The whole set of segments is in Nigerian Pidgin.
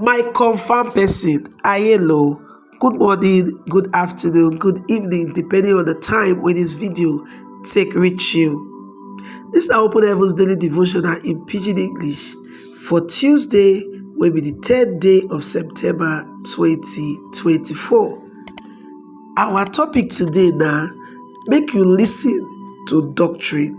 My confirm person, Ayelo, good morning, good afternoon, good evening, depending on the time when this video take reach you. This na Open Heavens Daily Devotional in Pidgin English for Tuesday, wey be the third day of September 2024. Our topic today na make you listen to doctrine.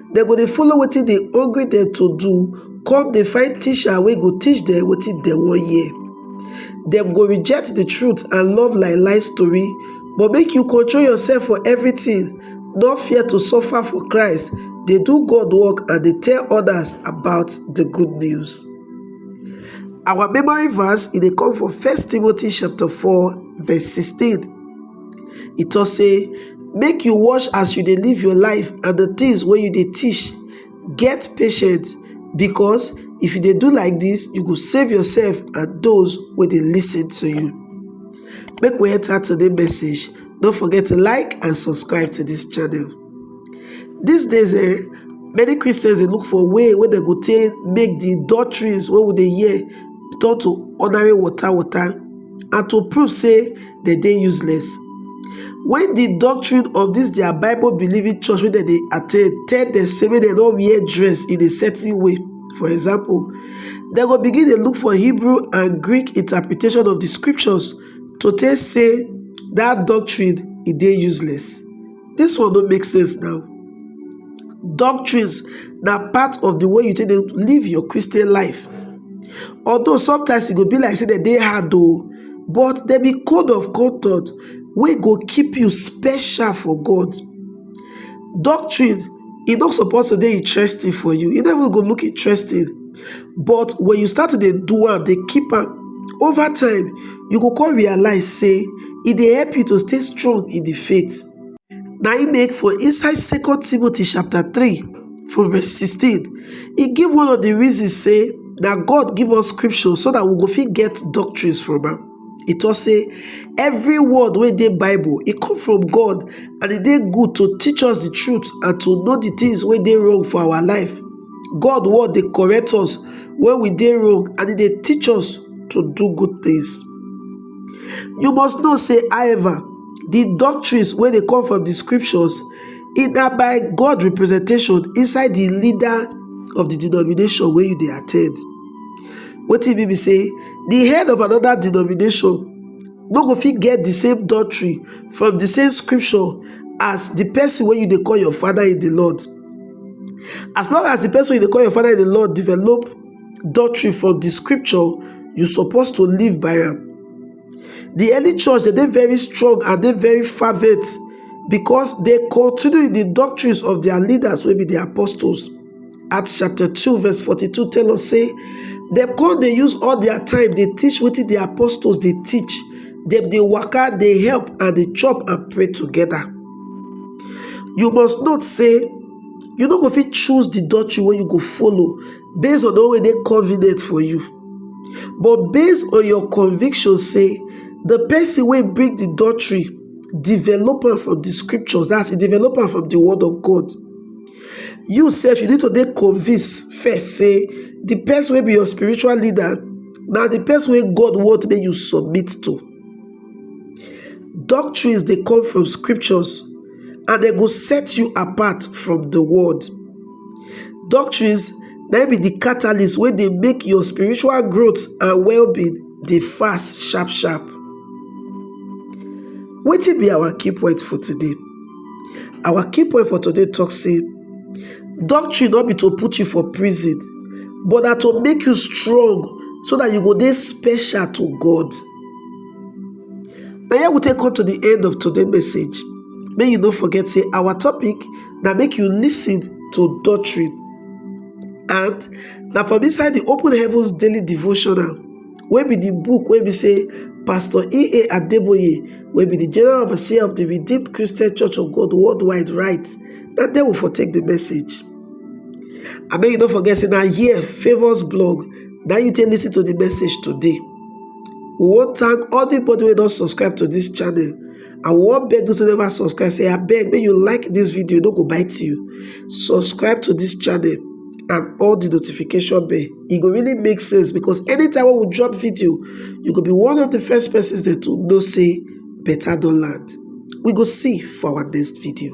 dem go dey follow wetin dey hungry dem to do come dey find teacher wey go teach dem wetin dem wan hear dem go reject the truth and love lie lie story but make you control yourself for everything no fear to suffer for christ dey do god work and dey tell others about the good news our memory verse e dey come from first timothy chapter 4 verse 16 e tok sey make you watch as you dey live your life and di things wey you dey teach get patient because if you dey do like this you go save yourself and those wey dey listen to you make we enter today message no forget to like and subscribe to this channel these days eh many christians dey look for way wey dem go take make the doctrines wey we dey hear turn to ordinary water water and to prove say dem dey useless when the doctrine of this their bible believing church wey dem dey attend tell dem say make dem no wear dress in a certain way for example dem go begin dey look for hebrew and greek interpretation of the scriptures to take say that doctrine e dey useless This one don't make sense now. Doctrines na part of the way you take live your Christian life. Although sometimes it go be like say that they hard though, but there be code of conduct We go keep you special for God. Doctrine e no suppose to dey interesting for you e no even go look interesting but when you start to dey do am dey keep am over time you go come realize say e dey help you to stay strong in the faith na im make for inside second timothy chapter 3 from verse 16 e give one of the reasons say na god give us scripture so that we go fit get doctrines from am e tok sey every word wey dey bible e come from God and e dey good to teach us the truth and to know the things wey dey wrong for our life God word dey correct us when we dey wrong and e dey teach us to do good things you must know sey however the doctrines wey dey come from the scriptures e na by God representation inside the leader of the denomination wey you dey attend Wetin e mean be say di head of anoda denomination no go fit get di same doctrine from di same scripture as di pesin wey you dey call your father in di Lord. As long as di pesin wey you dey call your father in di Lord develop doctrine from di scripture, you suppose to live by am. Di early church dem dey very strong and dey very fervent because dem continue in di doctrines of dia leaders wey be di apostles. Acts chapter 2 verse 42 tell us say dem come dey use all their time dey teach wetin the apostles dey teach. Dem dey waka, dey help and dey chop and pray together. You must note say you no go fit choose the doctrine wey you go follow based on the one wey dey convenient for you. But based on your conviction say the person wey bring the doctrine develop am from the scriptures, that's e develop am from the word of God. you sef you need to dey convinced first say the person wey be your spiritual leader na the person wey God want make you submit to. Doctrines dey come from scriptures and they go set you apart from the world. Doctrines na be the catalyst wey dey make your spiritual growth and well-being dey fast sharp sharp. Wetin be our key point for today? Our key point for today talk say doctrine no be to put you for prison but na to make you strong so that you go dey special to God. Na here we take come to the end of today's message. Make you no forget say our topic na make you listen to doctrine and na from inside the Open Heavens Daily Devotional wey be di book wey be say Pastor E. A. Adeboye, wey be di General Overseer of di Redeemed Christian Church of God Worldwide write, na there we for take di message. And make you no forget say na here Favour's blog na you take listen to di message today. We wan thank everybody wey don subscribe to dis channel. I wan beg those who never subscribe say abeg make you like this video no go bite you. Subscribe to this channel and all the notification bell. E go really make sense because anytime when we drop video, you go be one of the first persons that to know say better don land. We go see for our next video.